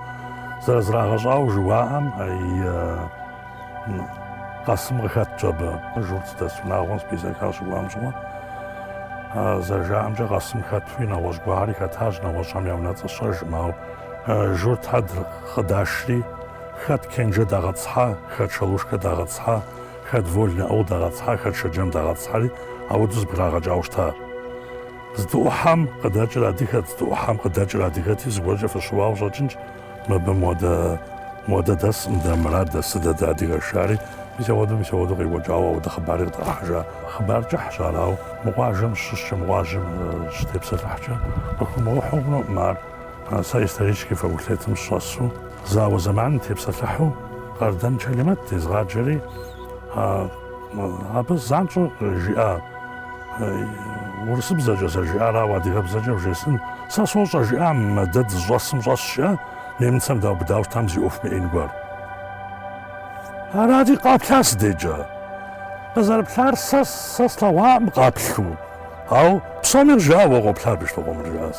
зэрызрагъэщӏауэ жыуаӏэм Къэсым къыхэтщ абы. Журт здэс унагъуэм списэкхэр щыӏуам щыгъуэ. Зэрыжаӏэмкӏэ Къэсым хэтуи нэгъуэщӏ гуэрхэри хэтащ, нэгъуэщӏхэм я унэцӏэ сщӏэжкъым. Ауэ журтхэр къыдашри, хэт Кэнжэ дагъэтӏысхьа, хэт Шалушкэ дагъэтӏысхьа, Хэт Вольнэ Аул дагъэтӏысхьа, хэт Шэджэм дагъэтӏысхьэри, ауэдэу зэбграгъэкӏауэ щыта. Здыӏухьэм къыдэкӏыр адыгэт, здыӏухьэм къыдэкӏыр адыгэти, зыгуэркӏэ фыщыуауэ щӏэкӏынщ, мыбы модэ дэскъым, дэ мыра дэсыр дэ дыадыгэш, жари, мис ауэдэу, мис ауэдэу къекӏуэкӏауэ ауэдэ хъыбари къытӏэрыхьэжа. Хъыбар кӏыхьщ ар, ауэ мы къуажэм щыщкӏэ, мы къуажэм щытепсэлъыхькӏэ, къыхыумыгъэхьэу хъунукъым ар. А сэ историческэ факультетым сщӏэсу, зауэ зэманым тепсэлъыхьу Къардэн Чэлимэт дезыгъаджэри, абы занщӏэу къыжиӏа урысыбзэкӏэ зэрыжиӏар, ауэ адыгэбзэкӏэ вжесӏын. Сэ сощӏэ, жиӏам, дэ дызыщӏэсым щӏэс щыӏэ нэмыцэм даубыдауэ щытам зи ӏуэху мыӏеин гуэр. Арати, къэплъа си дежкӏэ. Къызэрыплъар сэ слъэгъуакъым къаплъу, ауэ псоми къыжиӏа уэ къоплъа абы и шлыкъуэмыр, жиӏащ.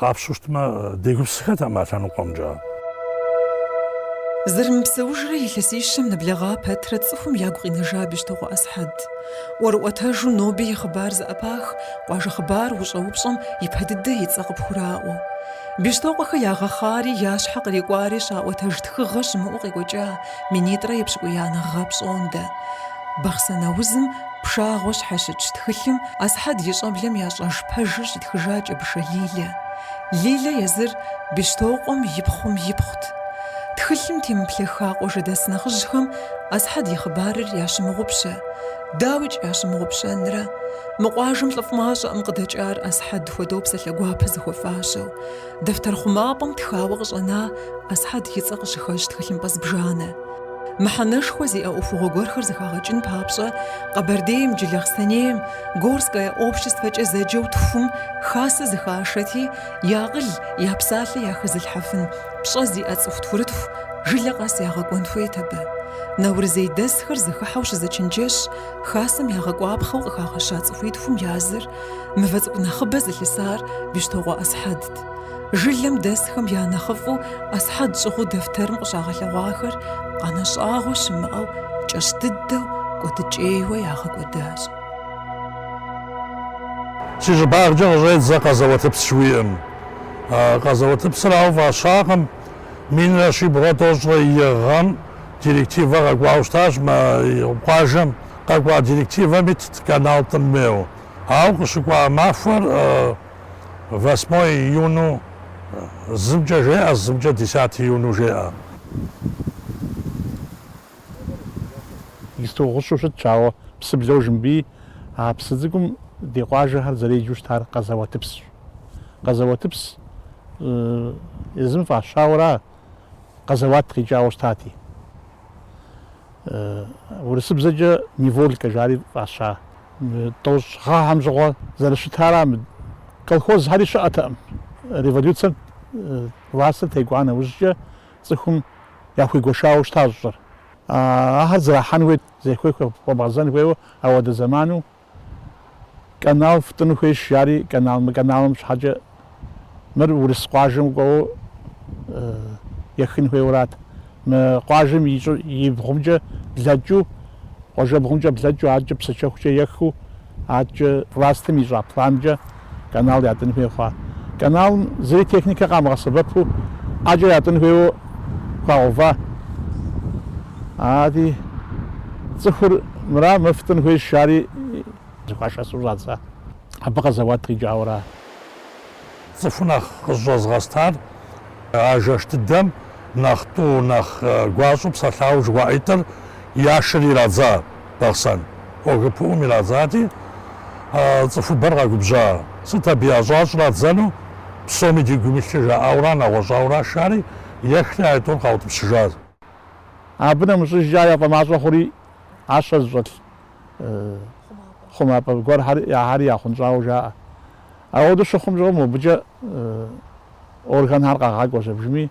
Къапщтэу щытмэ, дегупсысыххэтэкъым а лъэныкъуэмкӏэ. Зэрымыпсэужрэ илъэсищэм нэблэгъа пэтрэ цӏыхум ягу къинэжа Бещтокъуэ Асхьэд. ӏуэрыӏуэтэжу ноби и хъыбар зэӏэпах, къуажэ хъыбар ущӏэупщӏэм ипэ дыдэ и цӏэ къыпхураӏуэу. Бещтокъуэхэ ягъэхъари, я щхьэ кърикӏуари щаӏуэтэж тхыгъэ щымыӏэу къекӏуэкӏа минитӏрэ епщыкӏуиянэ гъэ пщӏондэ. Бахъсэн аузым пшагъуэ щхьэщытщ тхылъым Асхьэд и щӏэблэм ящӏэж пэжыр щитхыжа Кӏэбышэ Лилэ. Лилэ езыр Бещтокъуэм и пхъум ипхъут. Тхылъым темыплъэххэу къуажэдэс нэхъыжьхэм Асхьэд и хъыбарыр ящымыгъупщэ. Дауикӏ ящымыгъупщэнрэ? Мы къуажэм лӏыфӏ мащӏэкъым къыдэкӏар Асхьэд хуэдэу псалъэ гуапэ зыхуэфащэу. Дэфтэр хъумапӏэм тхауэ къыщӏэна Асхьэд и цӏэ къыщыхэщ тхылъымпӏэ зыбжанэ, мыхьэнэшхуэ зиӏэ ӏуэхугъуэ гуэрхэр зыхагъэкӏын папщӏэ Къэбэрдейм, Джылахъстэнейм, Горское обществэкӏэ зэджэу тхум хасэ зыхашэти, я акъыл, я псалъэ яхэзылъхьэфын пщӏэ зиӏэ цӏыху тхурытху жылэ къэс ягъэкӏуэн хуейт абы. Наурызейдэсхэр зыхыхьэу щызэчынджэщ хасэм ягъэкӏуапхъэу къыхагъэща цӏыхуитхум я зыр Мывэ цӏыкӏу нэхъыбэ зылъысар Бещтокъуэ Асхьэдт. Жылэм дэсхэм я нэхъыфӏу Асхьэд щӏыгъуу дэфтэрым къыщагъэлъэгъуахэр къанэщӏагъуэ щымыӏэу кӏэщӏ дыдэу кӏуэдыкӏейуэ ягъэкӏуэдащ. Си щӏыбагъкӏэ къыщӏедзэ къэзэуэтыпс жыхуиӏэм. Къэзэуэтыпсыр ауэ фӏащакъым. Минрэ щибгъурэ тӏощӏрэ и гъэм директивэ къэкӏуауэ щытащ мы къуажэм. Къэкӏуа директивэм итт канал тӏын хуейуэ, ауэ къыщыкӏуа махуэр восьмое июну зымкӏэ жеӏэ, зымкӏэ десятое июну жеӏэ. Исто гъущу щытщ, ауэ псыблэу жымбий, а псы цӏыкӏум ди къуажэхэр зэреджэу щытар къэзэуэтыпсщ. Къэзэуэтыпс езым фӏащауэра къэзэуат къикӏауэ щытати. Урысыбзэкӏэ Неволькэ жари фӏаща. Тӏощӏ гъэхэм щыгъуэ зэрыщытара колхозхэри щыӏэтэкъым. Революцием властыр текӏуа нэужькӏэ цӏыхум яхуигуэшауэ щытащ щӏыр. Ахэр зрахьэн хуейт, зехуей хуэбгъэзэн хуейуэ ауэдэ зэману Канал фтӏыну хуейщ, жари канал, мы каналым щхьэкӏэ мыр Урыс къуажэм кӏуэуэ ехын хуейуэрат. Мы къуажэм и щӏы, и бгъумкӏэ блэкӏыу, къуажэбгъумкӏэ блэкӏыу, адэкӏэ Псыкӏэхукӏэ ехыу, адэкӏэ властым ищӏа планкӏэ, канал ятӏын хуей хъуа. Каналым зыри техникэ къамыгъэсэбэпу ӏэкӏэ ятӏын хуейуэ хуагъэува. Ати цӏыхур мыра мыр фтӏын хуейщ жари зыхуашэсу щӏадза. Абы къэзэуат къикӏауэра. Цӏыху нэхъ къызэщӏэзыгъэстар а жэш дыдэм нэхъ тӏу, нэхъ гуащӏэу псэлъауэ жыхуаӏитӏыр яшэри ирадза. Бахъсэн ОГПУ-м ирадзати, цӏыхубэр къэгубжьа. Сыт абы ящӏа щӏрадзэну? Псоми ди гум илъыр жаӏауэра, нэгъуэщӏауэра жари, ехри аитӏур къаутӏыпщыжащ. Абы нэмыщӏыжкӏэ ар яфӏэмащӏэ хъури, ӏэщэ зыщӏэлъ хъумапӏэ гуэрхэри яхъунщӏауэ жаӏэ. Ауэдэу щыхъум щыгъуэ мобыкӏэ органхэр къагъакӏуэ зэбжми.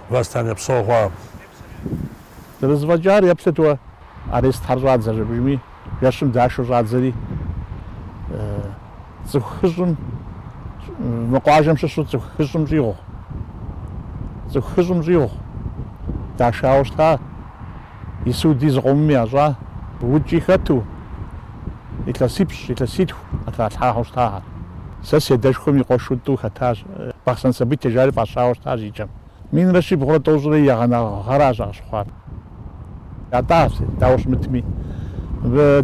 Властям епсэугъуам. Зэрызэфӏэкӏар еплъыт уэ, арестхэр щӏадзэ жэбжми, жэщым дашэу щӏадзэри, цӏыху хыщӏым, мы къуажэм щыщу цӏыху хыщӏым щӏигъу, цӏыху хыщӏым щӏигъу дашауэ щыта. и суди зыкъомым ящӏа укӏи хэту, илъэсипщӏ, илъэситху къытралъхьахэу щытахэр. Сэ си адэшхуэм и къуэшу тӏу хэтащ, Бахъсэн событие жари фӏащауэ щытащ и кӏэм. Минрэ щибгъурэ тӏощӏрэ и егъанэ гъэращ ар къыщыхъуар. Ятӏащ, дауэ щымытми,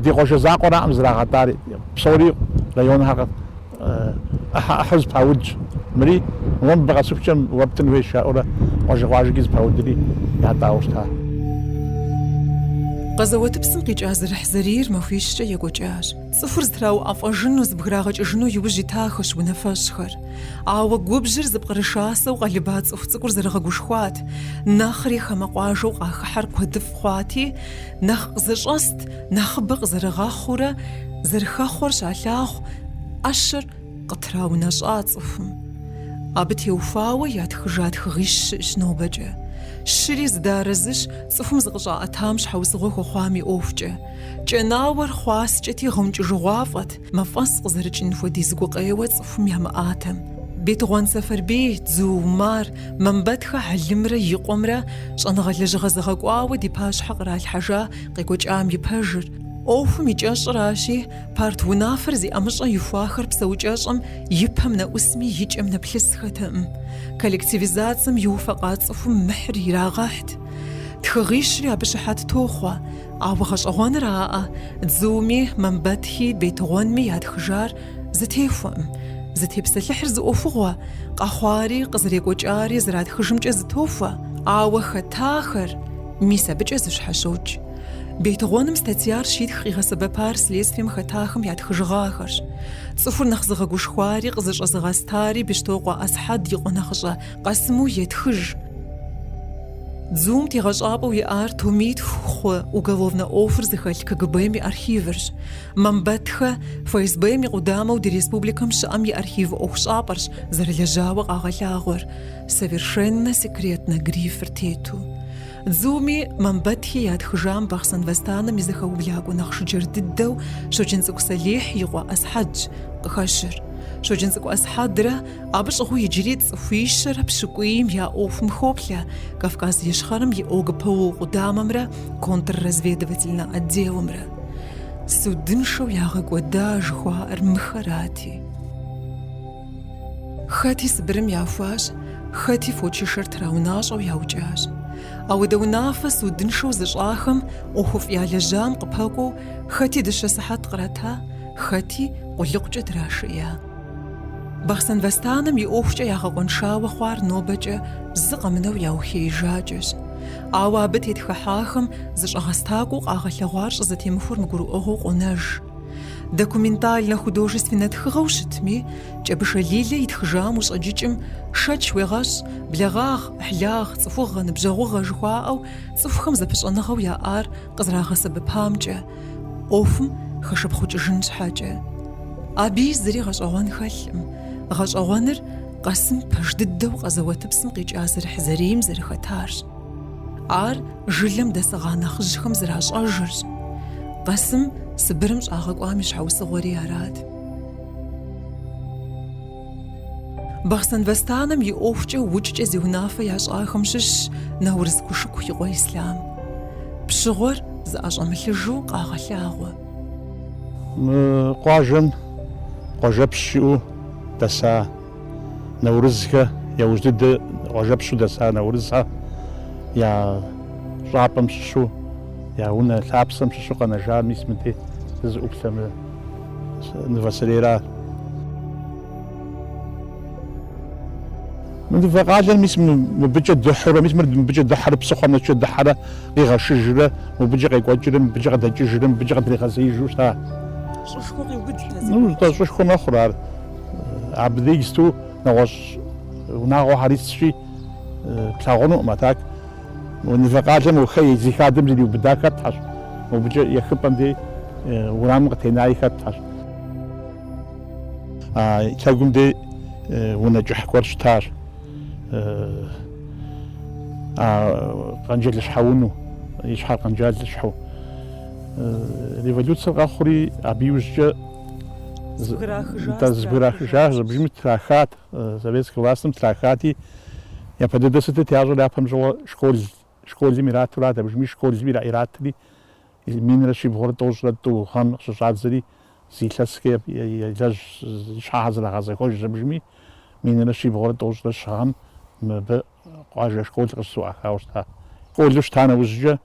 ди къуажэ закъуэраӏым зрагъэтӏар, псори районхэр. ӏыхьэ ӏыхьэу зыпаудщ. Мыри уэ мыбы къэсыхукӏэ уэ птӏын хуейщ, жаӏэурэ къуажэ-къуажэкӏи зыпаудри ятӏауэ щыта. Къэзэуэтыпсым къикӏа зэрыхьзэрийр махуищкӏэ екӏуэкӏащ. Цӏыхур зытрауӏэфӏэжыну, зыбграгъэкӏыжыну иужь итахэщ унафэщӏхэр. Ауэ губжьыр зыпкърышасэу къэлыба цӏыху цӏыкӏур зэрыгъэгушхуат, нэхъри хамэ къуажэу къахыхьэр куэдыфӏ хъуати, Нэхъ къызэщӏэст, нэхъыбэ къызэрыгъэхъуурэ зэрыхэхъуэр щалъагъу, ӏэщыр къытраунэщӏа цӏыхум. Абы теухуауэ ятхыжа тхыгъищ щыӏэщ нобэкӏэ. Щыри зыдэарэзыщ цӏыхум зыкъыщӏаӏэтам щхьэусыгъуэ хуэхъуам и ӏуэхукӏэ. Кӏэнауэр хъуаскӏэти гъэункӏыжыгъуафӏэт. Мафӏэс къызэрыкӏын хуэдиз гукъеуэ цӏыхум ямыӏатэм. Бетыгъуан Сэфарбий, Дзу Умар, Мамбэтхэ Хьэлымрэ и къуэмрэ щӏэныгъэ лэжьыгъэ зэгъэкӏуауэ ди пащхьэ къралъхьэжа къекӏуэкӏам и пэжыр, ӏуэхум и кӏэщӏыращи, парт унафэр зи ӏэмыщӏэ ихуахэр псэукӏэщӏэм и пэм нэӏусми и кӏэм нэплъысхэтэкъым. Коллективизацэм иуфэкъа цӏыхум мыхьыр ирагъэхьт. Тхыгъищри абы щыхьэт тохъуэ. Ауэ гъэщӏэгъуэныраӏэ, Дзуми, Мамбэтхи, Бетыгъуэнми ятхыжар зытехуэкъым. Зытепсэлъыхьыр зы ӏуэхугъуэ, къэхъуари, къызэрекӏуэкӏари зэратхыжымкӏэ зытохуэ. Ауэ хэтахэр, мис абыкӏэ зыщхьэщокӏ. Бетыгъуэным статьяр щитх къигъэсэбэпар следствием хэтахэм ятхыжыгъахэрщ. Цӏыхур нэхъ зыгъэгушхуари къызыщӏэзыгъэстари Бещтокъуэ Асхьэд и къуэ нэхъыщӏэ Къэсыму етхыж. Дзум тегъэщӏапӏэу иӏар томитху хъу уголовнэ ӏуэхур зыхэлъ КГБ-м и архивырщ. Мамбэтхэ ФСБ-м и къудамэу ди республикэм щыӏэм и архив ӏуэхущӏапӏэрщ зэрылэжьауэ къагъэлъагъуэр, совершенно секретно грифыр тету. Дзуми Мамбэтхи ятхыжам Бахъсэн восстанэм и зэхэублакӏуэ нэхъ жыджэр дыдэу Щоджэнцӏыкӏу Сэлихь и къуэ Асхьэдщ къыхэщыр. Щоджэнцӏыкӏу Асхьэдрэ Абы щӏыгъуу иджыри цӏыхуищэрэ пщыкӏуийм я ӏуэхум хоплъэ Кавказ Ищхъэрэм и ОГПУ къудамэмрэ контрразведывательнэ отделымрэ. Судыншэу ягъэкӏуэда жыхуаӏэр мыхэрати. Хэти Сыбырым яхуащ, хэти фочышэр траунащӏэу яукӏащ. Ауэдэ унафэ судыншэу зыщӏахэм ӏуэхуфӏ ялэжьам къыпэкӏуэу хэти дыщэ сыхьэт кърата, хэти къулыкъукӏэ драшея. Бахъсэн восстанэм и ӏуэхукӏэ ягъэкъуэншауэ хъуар нобэкӏэ зы къэмынэу яухеижакӏэщ. Ауэ абы тетхыхьахэм зэщӏэгъэстакӏуэу къагъэлъэгъуар щӏызэтемыхуэр мыгурыӏуэгъуэу къонэж. Документальнэ-художественнэ тхыгъэу щытми, Кӏэбышэ Лилэ итхыжам ущӏэджыкӏым шэч уегъэщӏ, благъагъ, ӏыхьлагъ, цӏыхугъэ, ныбжьэгъугъэ жыхуаӏэу цӏыхухэм зэпыщӏэныгъэу яӏар къызрагъэсэбэпамкӏэ, ӏуэхум хэшыпхъукӏыжын щхьэкӏэ. Абы зыри гъэщӏэгъуэн хэлъкъым, гъэщӏэгъуэныр Къасым пэж дыдэу къэзэуэтыпсым къикӏа зэрыхьзэрийм зэрыхэтарщ. Ар жылэм дэсыгъа нэхъыжьхэм зэращӏэжырщ. Къасым Сыбырым щӏагъэкӏуам и щхьэусыгъуэри арат. Бахъсэн восстанэм и ӏуэхукӏэ укӏкӏэ зи унафэ ящӏахэм щыщщ Наурыз Кушыку и къуэ Ислъам. Пщыгъуэр зыӏэщӏэмылъыжу къагъэлъагъуэ. Мы къуажэм къуажэпщ щыӏэу дэса Наурызхэ, яужь дыдэ къуажэпщу дэса Наурызхэ я щӏапӏэм щыщу, я унэ лъапсэм щыщу къэнэжар мис мыдей сызыӏуплъэ мы. Нывэ сэрейра. Мы нывэ къалэр мис мыбыкӏэ дыхьурэ, мис мыр мыбыкӏэ дыхьэрэ, псыхъуэм нэскӏэ дыхьэрэ, къигъэшыжрэ, мыбыкӏэ къекӏуэкӏрэ, мыбыкӏэ къыдэкӏыжрэ, мыбыкӏэ къыдригъэзеижу щыта. Щӏышхуэ къиубыд дэ зыгуэркӏэ. Ну, тӏэ, щӏышхуэ мэхъур ар. Абы иджыпсту нэгъуэщӏ унагъуэхэр исщи, плъагъунукъым, а так. Мы нывэ къалэм Охэ и зи хадэм зриубыда хэтхэщ, мыбыкӏэ ехыпӏэм дей уэрамым къытенаи хэтхэщ. А лъэгум дей унэ кӏыхь гуэр щытащ, а къэнджалыщхьэ унэу, и щхьэр къэнджалыщхьэу. Революцэр къэхъури, абы иужькӏэ дэ зэбграхыжащ, абыжми трахат. Советскэ властым трахати, япэ дыдэ сытыт ящӏэр, япэм щыгъуэ школ, школым иратурат, абыжми школми ира, иратри, минрэ щибгъурэ тӏощӏрэ тӏу гъэм къыщыщӏадзэри, зы илъэскӏэ елэжь щхьэхьэр зэрагъэзэхуэжырщ, абыжми минрэ щибгъурэ тӏощӏрэ щы гъэм мыбы Къуажэ школ къыщызыӏуахауэ щыта. Школу щыта нэужькӏэ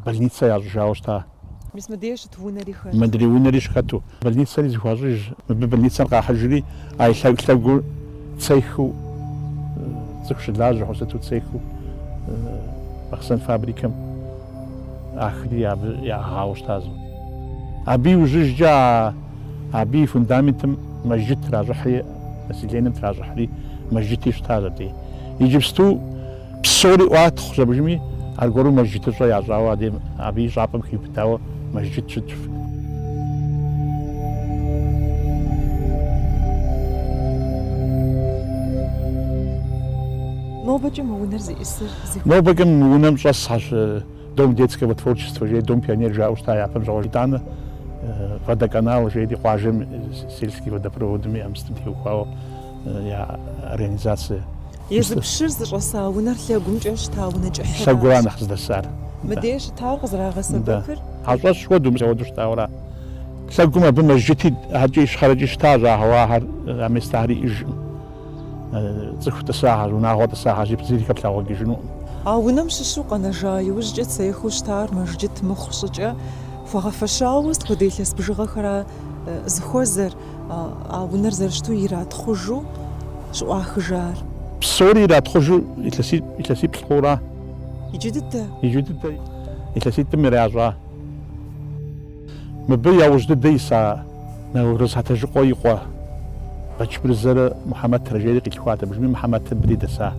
больницэ ящӏыжауэ щыта. Мис мыдей щыт унэри хэт. Мыдрей унэри щыхэту. Больницэри зыхуащӏыж. Мыбы больницэр къахьыжри а и лъэгу-лъэгур цехыу цӏыху щылажьэ хъу сыту цехыу Бахъсэн фабрикэм ахри абы яӏыгъауэ щыта зы. Абы иужьыжькӏэ а Абы и фундаментым мэжджыт тращӏыхьри, населенэм тращӏыхьри мэжджыти щытащ абдей. Иджыпсту псори ӏуатхъущ абыжми, аргуэру мэжджытыщӏэ ящӏауэ адэ абы и щӏапӏэм хиубыдауэ мэжджыт щытщ. Нобэкӏэ мы унэр зиӏысыр зыхуейщ. Нобэкӏэ мы унэм щӏэсхьэщ. Дом детского творчества жери, Дом пионер жаӏэу щыта япэм щыгъуэ. Итӏанэ Водоканал жери, къуажэм сельский водопроводым и мыстым теухуауэ я организацэ. Езы пщыр зыщӏэса унэр лъэгумкӏэ щыта унэ кӏыхьыращ. Лъэгура нэхъ здэсар. Мыдей щытауэ къызэрагъэсэбэпыр. Хьэщӏэщ хуэдэу мыстхуэдэу щытауэра? Лъэгум абы мэжджыти, аркӏи ищхъэрэкӏи щыта, щӏагъэуа ахэр, а местахэр иӏыжкъым. Цӏыху тӏысагъэщ, унагъуэ тӏысагъэщ, иджыпсту зыри хэплъагъуэкӏыжынукъым. А унэм щыщу къэнэжа иужькӏэ цехыу щытар мэжджыт мыхъу щӏыкӏэ, хуэгъэфэщауэ сыт хуэдэ илъэс бжыгъэхэра зыхуэзэр, а унэр зэрыщыту иратхъужу щыӏуахыжар? Псори иратхъужу илъэсиплӏ хъура? Иджы дыдэ? Иджы дыдэ илъэситӏым иращӏа? Мыбы яужь дыдэ иса Нэурыз Хьэтэжыкъуэ и къуэ Бэчмырзэрэ Мухьэмэтрэ жери къилъхуат абыжми Мыхьэмэтыр мыбдей дэса.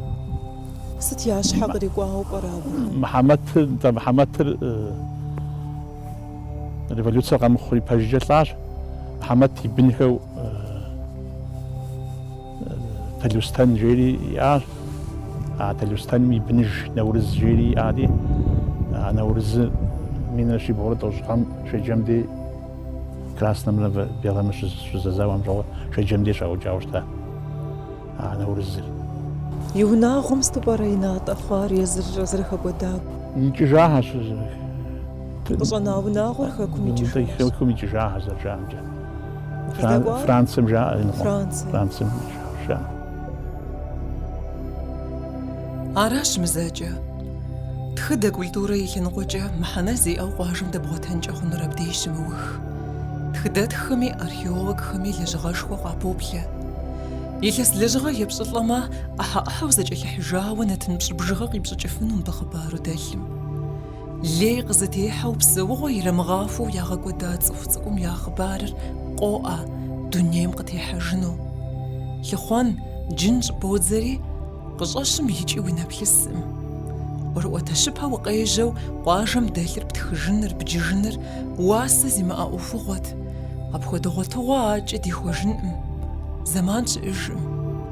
Сыт я щхьэ кърикӏуауэ пӏэрэ абы? Мыхьэмэтыр, нтӏэ, Мыхьэмэтыр революцэр къэмыхъу ипэжькӏэ лӏащ. Мыхьэмэт и бынхэу. Талъостэн жери иӏащ. А Талъостэным и быныж Нэурыз жери иӏати, а Нэурызыр минрэ щибгъурэ тӏощӏ гъэм Шэджэм дей краснэмрэ белэмрэ щызэзауэм щыгъуэ Шэджэм дей щаукӏауэ щыта а Нэурызыр. И унагъуэм сыту пӏэрэ и натӏэ хъуар езыр зэрыхэкӏуэдар? Икӏыжахэщ. Къыщӏэна унагъуэр Хэкум икӏыжахэщ. Хэкум икӏыжахэщ зэрыжаӏэмкӏэ. Францым жаӏэ иныкъуэ. Францым жаӏэ. Аращ мызэкӏэ. Тхыдэ культурэ и лъэныкъуэкӏэ мыхьэнэ зиӏэу къуажэм дэбгъуэтэнкӏэ хъунур абдей щымыух. Тхыдэтххэми, археологхэми лэжьыгъэшхуэ къапоплъэ. Илъэс лэжьыгъэ епщӏылӏэмэ, ӏыхьэ-ӏыхьэу зэкӏэлъыхьыжауэ нэтын пщӏы бжыгъэ къипщӏыкӏыфыну мыбы хъыбару дэлъым. Лей къызытехьэу псэугъуэ ирамыгъахуэу ягъэкӏуэда цӏыху цӏыкӏум я хъыбарыр къоӏэ дунейм къытехьэжыну. Лъыхъуэн, джын щӏыбодзэри, къыщӏэщкъым икӏи уи нэ плъыскъым. ӏуэрыӏуэтэщыпэ укъежьэу къуажэм дэлъыр птхыжыныр, бджыжыныр уасэ зимыӏэ ӏуэхугъуэт. Апхуэдэ гъуэтыгъуэ акӏэ дихуэжынкъым зэман щыӏэжкъым.